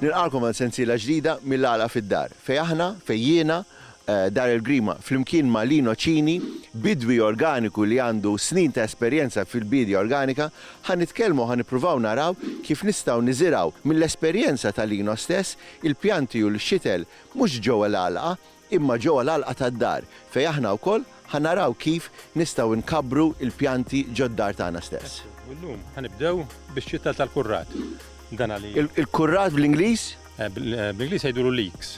Nilqagħkom għal sensiela ġdida mill-Għala fid-Dar, fejn aħna, fejn jiena, Dar il-Grima, flimkien ma' Lino Cini, bidwi organiku li għandu snin ta' esperjenza fil-biedja organika, ħa nitkellmu u ħa nippruvaw naraw kif nistgħu niżirgħu mill-esperjenza ta' Lino stess Il-pjanti u l-xitel mhux ġewwa l-għalqa, imma ġewwa l-għalqa tad-dar, fejn aħna wkoll ħa naraw kif nistgħu nkabbru l-pjanti ġod-dar tagħna stess. U llum ħa nibdew bix-xitel tal-kurrat. Dan għaliex? Il-kurrat bl-Ingliż? Bl-Ingliż jgħidulu leeks.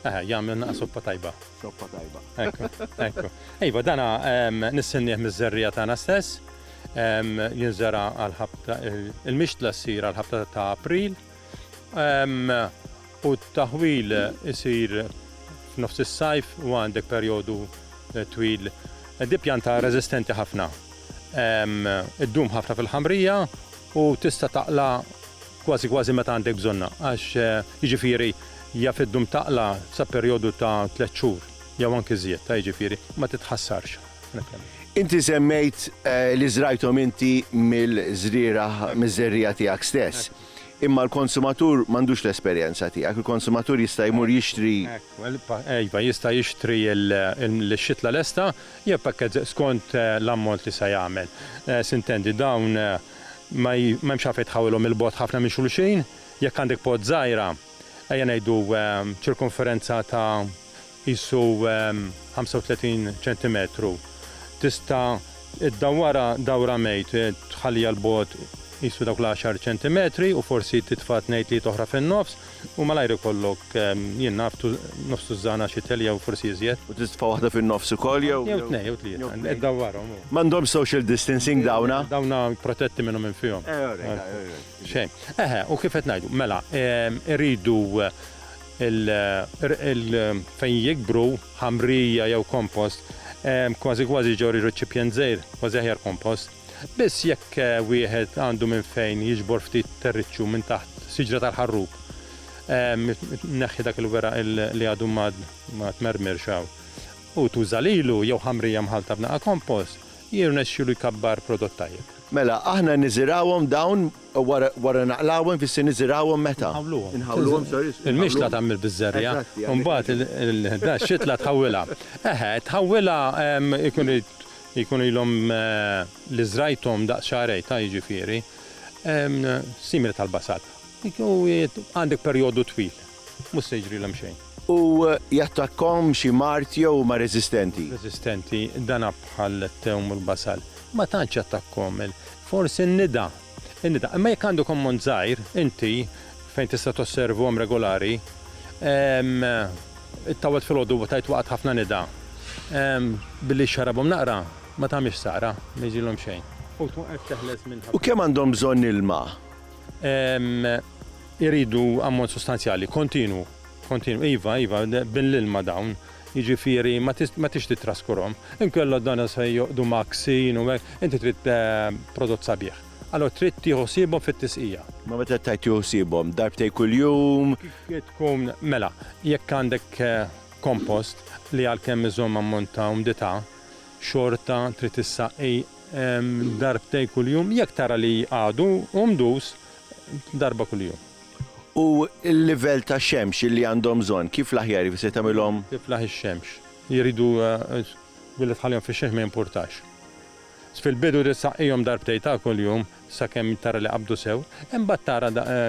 Eħe, jagħmilna soppa tajba. Soppa tajba. Ekku, ekku. Iva, dan nistennieh miż-żerriegħa tagħna stess. Jinżera' għall-ħabta, il-mixtla ssir għall-ħabta ta' April. u t-taħwil isir f'nofs is-sajf u għandek perjodu twil. Di pjanta reżistenti ħafna, iddum ħafna fil-ħamrija u tista' taqla' kważi kważi meta għandek bżonnha għax jiġifieri jaf iddum taqla' sa perjodu ta' tliet xhur jew anki żjed ta' jiġifieri ma titħassarx. Inti semmejt li żrajthom inti mill-żrieragħ miż-żerriegħa tiegħek stess. Imma l-konsumatur m'għandux l-esperjenza tiegħek. Il-konsumatur jista' jmur jixtri. Hekk, iva, jista' jixtri l-xitla lesta jew packets skont l-ammont li se jagħmel. S'intendi, dawn ma hemmx għalfejn tħawilhom 'il bogħod ħafna minn xulxin. Jekk għandek pot żgħira, ejja ngħidu ċirkumferenza ta' qisu 35 ċentimetru, tista' ddawwarha dawra mejt, tħalliha 'l bogħod qisu dawk l-għaxar ċentimetri u forsi titfa' tnejn tlieta oħra fin-nofs u malajr ikollok, jien naf, nofs tużżana xi telja jew forsi iżjed. U titfa' waħda fin-nofs ukoll jew? Jew tnejn jew tlieta, iddawwarhom u. M'għandhomx social distancing dawna? Dawna protetti minnu minn fihom. Xejn. Eħe, u kif qed ngħidu, mela, irridu. il-qrqil fejn jikbru, ħamrija jew kompost, kważi kważi ġorr reċipjent żgħir, kważi aħjar kompost. Biss jekk wieħed għandu minn fejn jiġbor ftit terriċċu minn taħt siġra tal-ħarrub, tneħħi dak il-weraq li għadu ma tmermirx hawn u tuża lilu jew ħamrija mħallta b'naqa' kompost, jirnexxilu jkabbar prodott tajjeb. Mela, aħna niżirgħuhom dawn Wara naqlgħuhom ifisser niżirgħuhom meta? Inħawluhom. Inħawluhom, sorry. Inħawluhom. Il-mixtla tagħmel biż-żerriegħa. Eżatt. U mbagħad il-xitla tħawwilha. Eħe, tħawwilha jkun irid jkunu ilhom li żrajthom daqs xahrejn, ta' jiġifieri simili tal-basal. Għandek perjodu twil mhux se jiġrilhom xejn. U jattakkhom xi mard jew huma reżistenti? Reżistenti, dana bħal t-tewm u l-basal. Ma tantx jattakkhom. Forsi n-nida. In-nida. Imma jekk għandek ammont żgħir, inti, fejn tista' tosservhom regolari, ittawwalt filgħodu u tgħid waqgħet ħafna nida, billi xxarabhom naqra, ma tagħmilx sara, ma jiġrilhom xejn. U tkun qed teħles minn ħafna. U kemm għandhom bżonn ilma? Iridu ammont sostanzjali, kontinwu, kontinwu, iva, iva, bin l-ilma dawn, jiġifieri ma ma tridx tittraskurhom. Inkella dan se joqgħdu mgħakksin u hekk, inti trid prodott sabiħ. Allura trid tieħu ħsiebhom fit-tisqija. Ma meta qed tgħid tieħu ħsiebhom, darbtejn kuljum? Kif tkun, mela, jekk għandek kompost li għalkemm iżomm ammont ta' umdità, xorta trid issaqi darbtejn kuljum, jekk tara li għadu umdus, darba kuljum. U l-livell ta' xemx li għandhom bżonn, kif l-aħjar jifiser tagħmilhom? Tiflaħ ix-xemx. Jridu billi tħallihom fix-xemx ma jimpurtax. Fil-bidu trid ssaqqihom darbtejn ta' kuljum sakemm tara li qabdu sew, imbagħad tara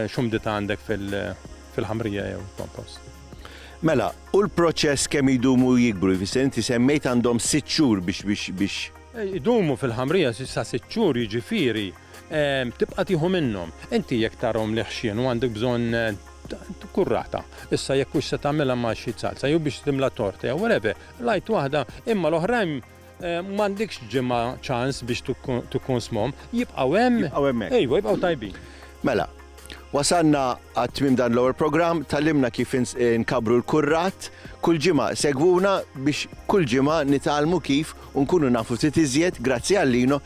x'umdità għandek fil-ħamrija jew kompost. Mela, u l-proċess kemm idumu jikbru? Jifiser inti semmejt għandhom sitt xhur biex. Idumu fil-ħamrija sa sitt xhur jiġifieri tibqa' tieħu minnhom. Inti jekk tarahom li ħxien u għandek bżonn kurrata, issa jekk hux se tagħmilha ma' xi salsa jew biex timla torta jew whatever, l-għid waħda, imma l-oħrajn m'għandekx ġimgħa ċans biex tikkonsmhom, jibqgħu hemm. Jibqgħu hemmhekk. Ejwa, jibqgħu tajbin. Mela, wasalna għat-tmiem dan l-ewwel programm, tgħallimna kif inkabbru l-kurrat. Kull ġimgħa segwuna biex kull ġimgħa nitgħallmu kif u nkunu nafu ftit iżjed, grazzi għal Lino,